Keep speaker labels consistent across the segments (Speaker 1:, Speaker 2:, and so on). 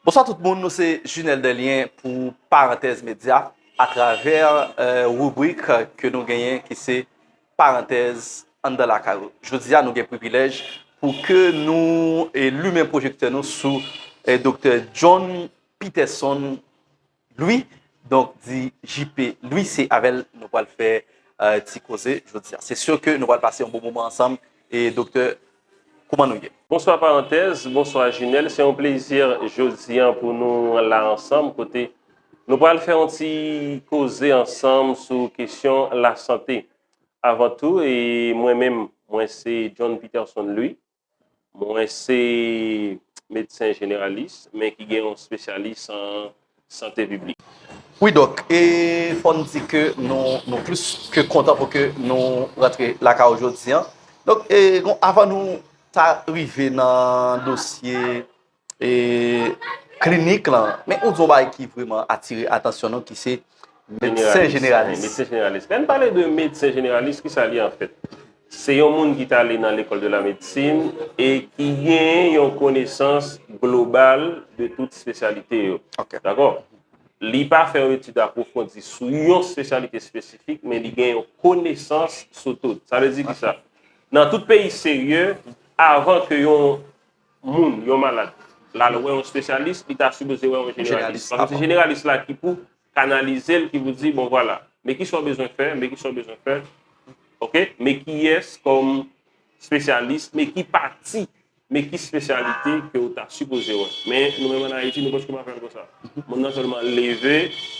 Speaker 1: Bonswa tout moun nou se Junel Delien pou Parantèz Medya a travè ribrik ke nou genyen ki se Parantèz anndan lakay ou. Jodi a nou gen privilèj pou ke nou limen pwojektè nou sou Doktè John Peterson Louis donk di JP Louis se avèl nou pwal fè ti koze jodia se sûr ke nou pwal pase yon bon moman ansanm e doktè kouman nou ye. Bonswa Parantèz,
Speaker 2: bonswa Jumelle, se yon plezi jodi an pou nou la ansanm kote nou pral fè yon ti koze ansanm sou kesyon lasante. Avan tou, mwen menm, mwen se John Peterson Louis, Mwen se medsen jeneralis men ki gen yon spesyalis an sante piblik. Wi dok,
Speaker 1: e fò n di ke nou plis ke kontan pou ke nou rantre lakay ou jodi an. Dok, e avan nou ta rive nan dosye e klinik lan, men ou di yon bagay ki vreman atire atansyon nou ki se medsen jeneralis. Medsen jeneralis. Lè n
Speaker 2: pale de medsen jeneralis, ki sa li an fèt? Se yon moun ki ta ale nan lekòl de la medsin e ki gen yon konesans global de tout spesyalite yo. Dakò? Li pa fè yon etid apwofondi sou yon spesyalite espesifik, men li gen yon konesans sou tout. Sa vle di ki sa? Nan tout peyi serye, avan ke yon moun, yon malad, l al wè yon espesyalis, li ta sipoze wè yon jeneralis. Paske se jeneralis la ki pou kanalize l, ki pou di, bon vwala, men ki sa w bezwen fè, men ki sa w bezwen fè, ok, men kiyès kòm espesyalis, men ki pati, men ki espesyalite ke ou ta sipoze wè. Men nou menm an Ayiti, nou pòske pa fè l konsa. Moun nan sèlman leve,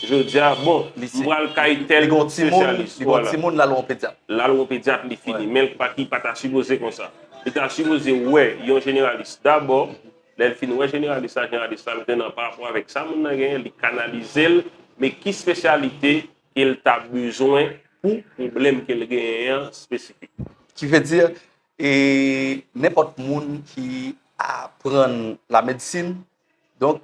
Speaker 2: jodi a, bon, m pral kay tèl espesyalis. Li gon timoun, l al wè yon
Speaker 1: pedyat. L al wè yon pedyat, li
Speaker 2: fini. Men l pa ki pa ta sipoze konsa. Li ta sipoze wè yon jeneralis dabò, lè l fin wè jeneralis la, jeneralis la mete l an parapò avèk sa moun nan genyen, li kanalize l, men ki spesyalite ke l ta bezwen pou pwoblèm ke l genyen an espesifik. Ki vle di,
Speaker 1: nenpòt moun ki aprann lamedsin, donk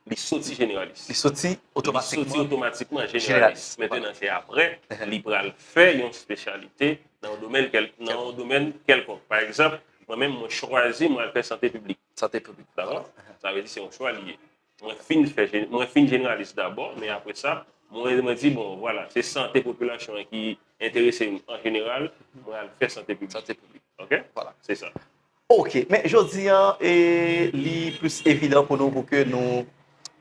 Speaker 1: Li soti
Speaker 2: jeneralis. Li soti
Speaker 1: otomatikman. Li soti otomatikman
Speaker 2: jeneralis. Mentenan se apre, li pral fè yon spesyalite nan yon domèn kèlkonk. Nan yon domèn kèlkonk. Pa egzanp, mwen menm mwen chwazi mwen al fè sante piblik. Sante piblik. Dako?
Speaker 1: Sa vle di
Speaker 2: se yon chwa li ye. Mwen fin fè, mwen fin jeneralis dabò, men apre sa, mwen mwen di bon, vwala, se sante popilasyon an ki enterese m an jeneral, mwen al fè sante piblik. Sante piblik. Ok? Vwala.
Speaker 1: Se sa.
Speaker 2: Ok, men
Speaker 1: jodi an e li plis evidan pou nou pou ke nou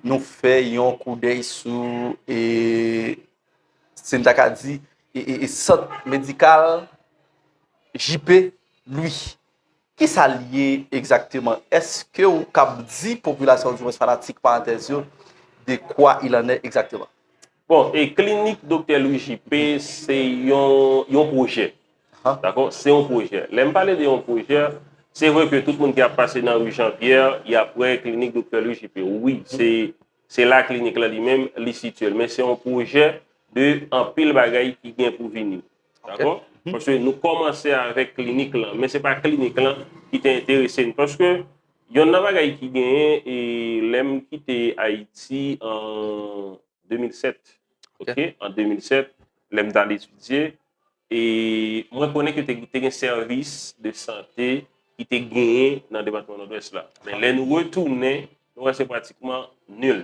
Speaker 1: nou fè yon koudèy sou e si m ta ka di e sant medikal JP Louis. Ki sa l ye egzakteman? Eske ou kab di popilasyon di mwens fanatik parantèz yo de kwa il an è egzakteman? Bon, e
Speaker 2: klinik Doktè Louis JP se yon yon pwojè. Dakò? Se yon pwojè. Lè m pale de yon pwojè, se vre ke tout moun ki ap pase nan rue Jean Pierre, y ap wè klinik Doktè Louis JP. Wi, se se la klinik la li menm li sitye l. Men se yon pwojè de anpil bagay ki gen pou vini. Dakò? Paske nou kòmanse avèk klinik lan, men se pa klinik lan ki te enterese n. Paske yonn nan bagay ki genyen, e lè m kite Ayiti an 2007, ok, an 2007, lè m t al etidye, e mwen konnen ke te gen sèvis de sante ki te genyen nan depatman Nòdwès la. Men lè nou retounen, nou wè se pratikman nil.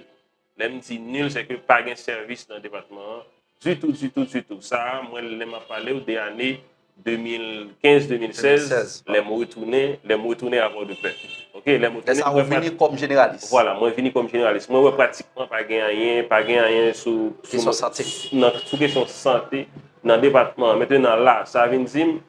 Speaker 2: Lè m di nul se ke pa gen sèvis nan depatman an ditou, ditou, ditou. Sa a mwen lè m ap pale w de ane 2015, 2016, lè m retounen, lè m retounen a Pòdepè. Oke, lè m retounen. Lè sa a ou vini kòm
Speaker 1: jeneralis. Vwala, mwen vini kòm
Speaker 2: jeneralis. Mwen wè pratikman pa gen anyen, pa gen anyen sou. Kesyon
Speaker 1: sante. Sou kesyon
Speaker 2: sante nan depatman an. Mentenan la, sa vin di m,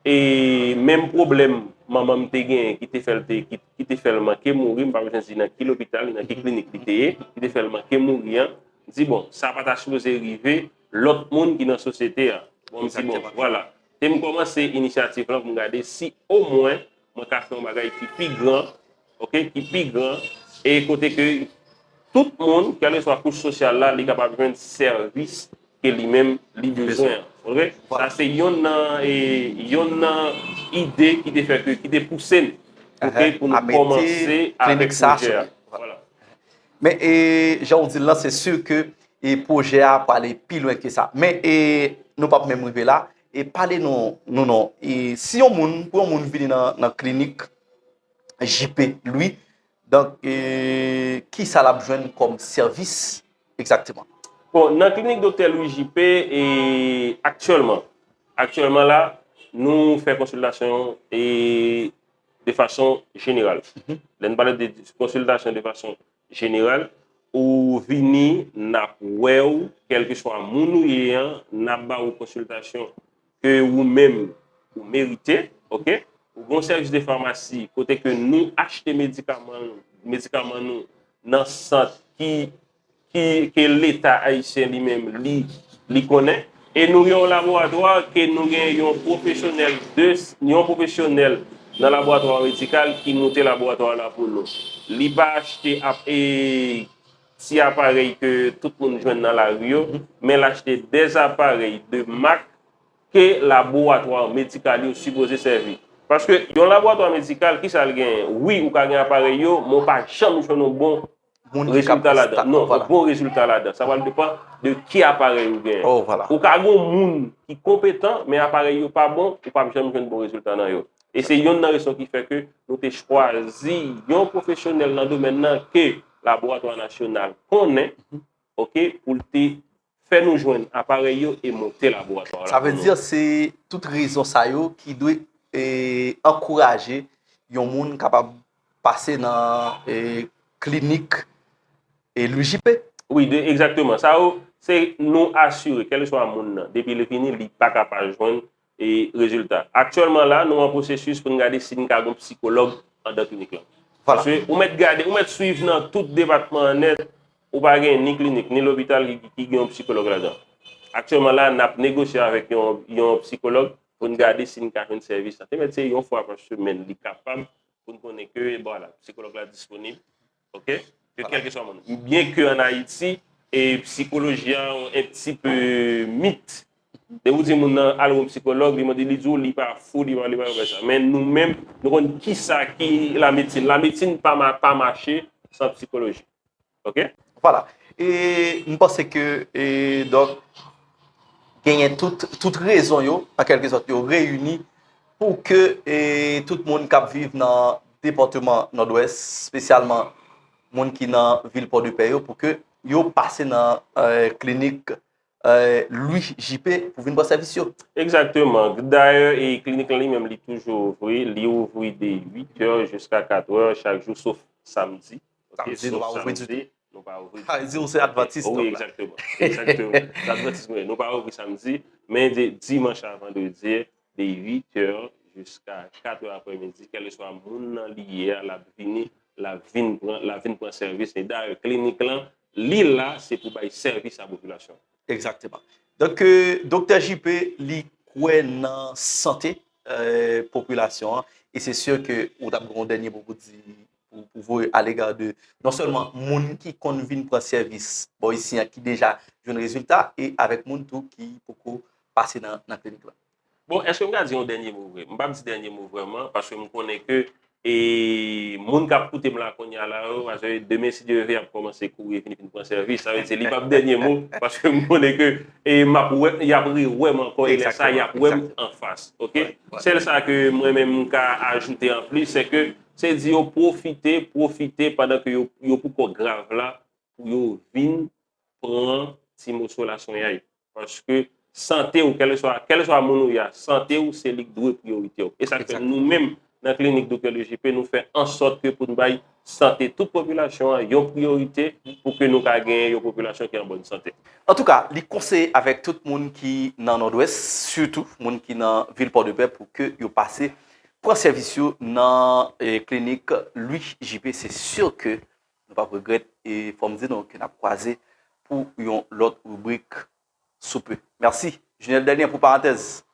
Speaker 2: E menm pwoblèm manman m te genyen ki te fè l te ki te fè l manke mouri, m pa bezwen di nan ki lopital, nan ki klinik li te ye, ki te fè l manke mouri an, m di bon, sa pa ta sipoze rive lòt moun ki nan sosyete an. Bon, m di bon, vwala. E m kòmanse inisyativ lan pou m gade si omwen. mwen ka fè yon bagay ki pi gran, ok, ki pi gran, e kote ke tout moun, kèleswa kouch sosyal la, li kapab jwenn sèvis ke li menm li bezwen an. Ok? Sa se yon nan, e, yon nan ide ki te fè ke, ki te pouse m, ok, pou nou kòmanse avèk pwojè a. Vwala. Men, e,
Speaker 1: jan ou di l lan, se sur ke, e, pwojè a pwale pi lwen ke sa. Men, e, nou pap menm rive la. E pale nou nou non, e si yon moun, pou yon moun vini nan klinik JP Louis, donk e ki sa l ap jwenn kòm sèvis egzakteman? Bon, nan klinik
Speaker 2: Doktè Louis JP, e aktyèlman, aktyèlman la, nou fè konsiltasyon e de fason jeneral. Lè nou pale de konsiltasyon de fason General ou vini nap wew kelkeswa moun ou ye an nap ba ou konsiltasyon ke ou menm ou merite ok ou gen yon sèvis de famasi kote ke nou achte medikaman nou medikaman nou nan sant ki ki ke leta ayisyen li menm li li konnen. E nou gen yon laboratwa ke nou gen yon pwofesyonèl de, yon pwofesyonèl nan laboratwa medikal ki moute laboratwa la pou nou. Li pa achte ap e ti aparèy ke tout moun jwenn nan lari yo, men l achte de aparèy de mak ke laboratwa medikal yo sipoze sèvi. Paske yon laboratwa medikal, kisa l genyen? Wi, ou ka gen aparèy yo, men ou pa janm jwenn yon bon Moun ki kap fè sita. Non, yon bon rezilta ladan. Sa pral depan de ki aparèy ou gen. Oh, vwala. Ou ka gen
Speaker 1: moun
Speaker 2: ki konpetan, men aparèy yo pa bon, ou pap janm jwenn bon rezilta nan yo. E se yonn nan rezon ki fè ke nou te chwazi yon pwofesyonèl nan domèn nan ke Laboratwa Nasyonal konnen, ok, pou l te Fè nou jwenn aparèy yo e monte laboratwa la pou nou. Se
Speaker 1: tout rezon sa yo ki dwe ankouraje yon moun kapab pase nan klinik LUJP. Wi, egzakteman.
Speaker 2: Sa yo, se nou asire, kèleswa moun nan, depi li vini, li pa ka pa jwenn E rezilta. Aktyèlman la, nou an pwosesis pou n gade si n ka gen yon psikològ andan klinik lan. Paske ou mèt gade, ou mèt swiv nan tout depatman an nèt, ou pa gen ni klinik, ni lopital ki gen yon psikològ ladan. Aktyèlman la, n ap negosye avèk yon psikològ pou n gade si n ka jwenn sèvis lan. Te mèt se yon fwa pa semèn li kapab pou n konnen ke, bon ala, psikològ la disponib. Ok, ke kelkeswa moun. Byen ke an Ayiti, e psikoloji a on en pti pe mit. Dè ou di moun nan al wè on psikològ, li mande li di ou li pa fou, li pa li pa li pa sa. Men nou menm, nou konn ki sa ki la metsin. La metsin pa ma pa mache san psikoloji. Ok? Vwala. E
Speaker 1: m panse ke e dòk genyen tout tout rezon yo, an kelke sòt yo reyini. Pou ke tout moun k ap viv nan depatman Nòdwès, spesyalman moun ki nan vil Pòdepè yo, pou ke yo pase nan klinik Lwi JP pou vin pran sèvis yo. Egzakteman.
Speaker 2: Dayè, klinik lan li menm li toujou ouvri. Li ouvri de 8 è jiska 4 è chak jou, sof samdi. Sa vle di nou pa
Speaker 1: ouvri ditou. Nou pa ouvri. Sa vle di
Speaker 2: ou se advantis
Speaker 1: tou. Wi, egzakteman.
Speaker 2: Egzakteman. Se advantis mwen ye. Nou pa ouvri samdi, men de dimanch a vandredi, de 8 è jiska 4 è aprè midi, kèleswa moun nan li ye a, l ap vini, l ap vin pran, l ap vin pran sèvis. E dayè klinik lan, li la, se pou bay sèvis a popilasyon an. Egzakteman.
Speaker 1: Donk, Doktè JP, li kwè nan sante popilasyon an. E se si ke ou t ap gen yon dènye mo pou di pou voye a lega de non sèlman moun ki konn vin pran sèvis bò isi an ki deja jwenn rezilta e avèk moun tou ki poko pase nan klinik la. Bon, èske m ka
Speaker 2: di yon dènye mo vre? M p ap di dènye mo vrèman paske m konnen ke e moun k ap koute m la kounya la yo pase demen si Dye ve y ap kòmanse kouri vini vin pran sèvis sa vle di li p ap dènye mo paske m konnen ke e m ap wè y ap rewè m ankò e lè sa y ap wè m anfas ok. Sèl sa ke mwen menm m ka ajoute anplis se ke Se di yo pwofite, pwofite pandan ke yo, yo pou kò grav la, pou yo vin pran ti moso laswenyay. Paske sante ou, kèleswa, kèleswa moun ou ye a, sante ou se li ki dwe priyorite ou. E sa k fè nou menm nan klinik Doktè Le JP nou fè an sòt ke pou n bay sante tout popilasyon an yon priyorite pou ke nou ka genyen yon popilasyon ki an bòn sante. Antouka, li
Speaker 1: konseye avèk tout moun ki nan Nòdwès, sitou moun ki nan vil Pòdepè pou ke yo pase Pran sèvis yo nan klinik Louis JP se sur ke nou pap regrèt e fòm di nou ke nap kwaze pou yon lòt ribrik sou pe. Merci Junel Delien pou parantèz